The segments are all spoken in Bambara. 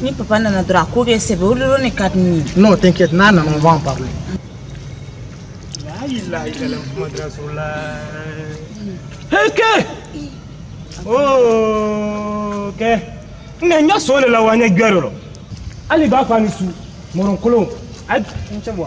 Ni papa nana dɔrɔn a ko kɛ sɛbɛ o dɔrɔn de ka di ne ye. Non t'inquiète n'a nana on va en parler. Heke! Oh, ok. Ne ya so le la wa n ya gɛrɛ dɔ. Hali b'a fɔ a ni su, mɔrɔnkolon. A ye cɛ bɔ.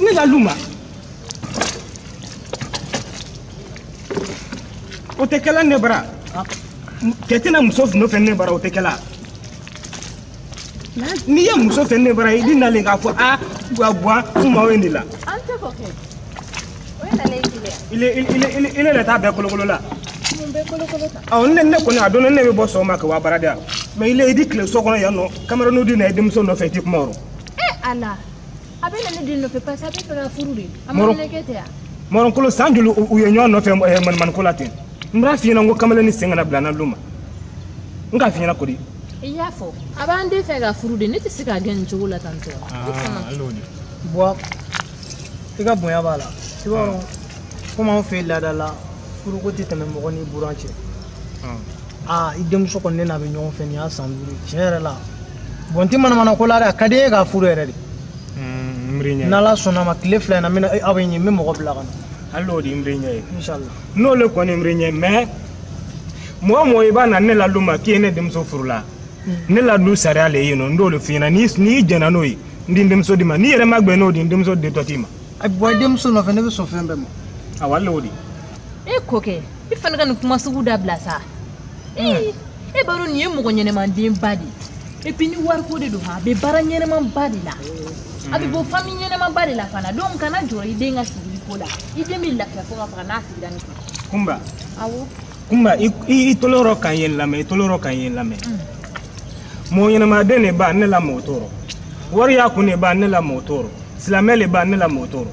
ne la lu ma o tɛ kɛla ne bara kɛ tɛ na muso nɔfɛ ne bara o tɛ kɛla n'i ye muso fɛ ne bara i di nalen k'a fɔ a bua bua kumaw ye nin la ile le t'a bɛɛ kolokolo la ne ne kɔni a dɔn ne bɛ bɔ sɔgɔma ka wa baarada la mais ile i di tile so kɔnɔ yan nɔ kamarennu di na n denmuso nɔfɛ i ti kuma o ee ala a bɛ na ne den nɔfɛ parce que a b'a fɛ k'a furu de a ma ne kɛ tɛ yan mɔrɔnkolo san joli u ye ɲɔgɔn nɔfɛ eh, manamana ko la ten n b'a f'i ɲɛna n ko kamalen ni sen kana bila n na lu ma n k'a f'i ɲɛna kodi i y'a fɔ a b'an den fɛ k'a furu de ne tɛ se k'a gɛn nin cogo la tantɔ bon i ka bonya b'a la i b'a dɔn komi anw fɛ yen laada la furuko tɛ tɛmɛ mɔgɔ ni buran cɛ aa i denmuso kɔni ne n'a bɛ ɲɔgɔn fɛ nin y'a san duuru tiɲɛ yɛrɛ la bɔn n tɛ manamana ko la dɛ a ka di n ye k'a furu yɛrɛ de n'ala sɔnna ma tile fila in na n bɛna aw bɛ ɲɛ n bɛ mɔgɔ bila ka na hali n'o de ye n bɛ ɲɛ ye n'o le kɔni n bɛ ɲɛ mais mɔgɔ mɔgɔ i b'a na ne la lu ma k'i ye ne denmuso furu la ne la lu sariya le ye nɔ n d'o le f'i ɲɛna n'i jɛnna n'o ye n di n denmuso d'i ma n'i yɛrɛ ma gbɛn n'o di n denmuso ditɔ t'i ma a bɔ i denmuso nɔfɛ ne bɛ sɔn fɛn bɛɛ ma awɔ hali n'o di e ko kɛ i fana ka nin kuma sugu dabila sa e b'a dɔn nin ye mɔgɔ ɲɛnɛmandenba de ye epi ni wariko de don a bɛ baara ɲɛnɛmanba de la a bɛ bɔ fami ɲɛnɛmanba de la fana donc kana jɔrɔ i den ka sigili ko la i den bɛ lafiya fo ka faga n'a sigira n fɛ kunba awɔ kunba i tolo yɔrɔ ka ne lamɛn i tolo yɔrɔ ka ne lamɛn mɔgɔ ɲɛnɛmaden de b'a ne la mɔgɔ tɔɔrɔ wari y'a kun de b'a ne la mɔgɔ tɔɔrɔ silamɛ de b'a ne la mɔgɔ tɔɔrɔ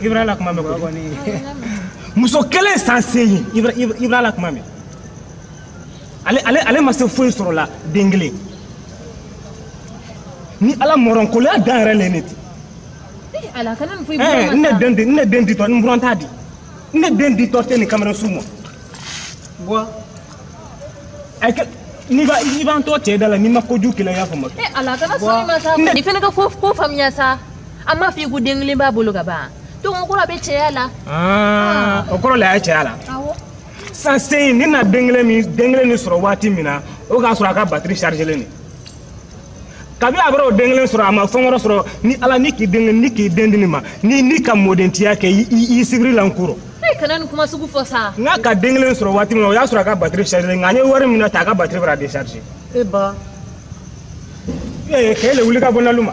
Ibra la kuma mɛ ko muso kelen san seegin Ibra la kuma mɛ ale ma se foyi sɔrɔ la den kelen nin a la mɔrɔnkoloya dan yɛrɛ le nin ti eh, ne den di ne den ditɔ n buran t'a di ne den ditɔ tɛ nin kamalen suu ma bon n'i b'a i b'an tɔ cɛ da la n'i ma kojugu kɛlɛ i y'a faamu eh, ala kana sɔn i ma sa nin fana ka ko faamuya sa a ma f'i ko den kelen b'a bolo ka ban donc o kɔrɔ a bɛ cɛya la ah, o kɔrɔ la a ye cɛya la san sen in ni na den kelen min den kelen nin sɔrɔ waati min na o k'a sɔrɔ a ka batiri chargelen de kabi a bara o den kelen sɔrɔ a ma fɛn wɛrɛ sɔrɔ ni ala ni k'i den kelen ni k'i den di nin ma ni ni ka mɔdentiya kɛ i sibiri la n kɔrɔ kana nin kuma sugu fɔ sa n'a ka den kelen sɔrɔ waati min na o y'a sɔrɔ a ka batiri chargelen nka an ye waati min na ta a ka batiri bara décharger e ba ee k'e le wuli ka bɔ nalu ma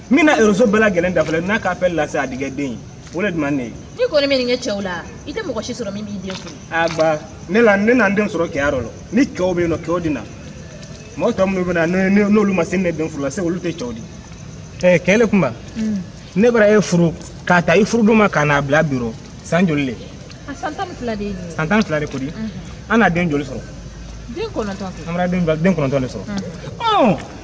min na réseau bɛɛ lajɛlen dafalen n'a ka appel lase a di kɛ den o le duman ne ye n'i kɔni bɛ nin kɛ cɛw la i tɛ mɔgɔ si sɔrɔ min b'i den furu a ba ne la ne na n den sɔrɔ kɛya dɔ la ni kɛw bɛ yen nɔ kɛw di na mɔgɔ tɔ minnu bɛ na n'olu ma se ne den furu la se olu tɛ cɛw di ɛɛ kɛ le kunba ne bara e furu k'a ta i furu don ma ka n'a bila bi rɔ san joli le a san tan ni fila de ye san tan ni fila de ko di an na den joli sɔrɔ den kɔnɔntɔn an bara den kɔnɔntɔn de sɔrɔ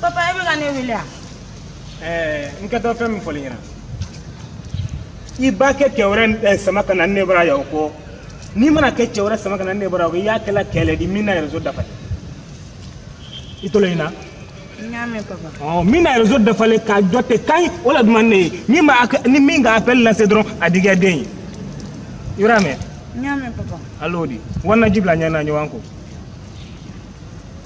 papa e bɛ ka ne wele a. ɛɛ n kɛtɔ fɛn min fɔl'i ɲɛna i b'a kɛ cɛ wɛrɛ sama ka na ne bara yan o kɔ n'i mana kɛ cɛ wɛrɛ sama ka na ne bara o kɔ i y'a kɛla kɛ le di min na réseau dafalen i tolo ye n na. min na réseau dafalen k'a jɔ ten kan o la duman ne ye min ma ni min ka appel lase dɔrɔn a di kɛ den ye i y'a mɛn. n y'a mɛn papa. al'o di wari na ji bila ɲɛ na ɲɔgɔn ko.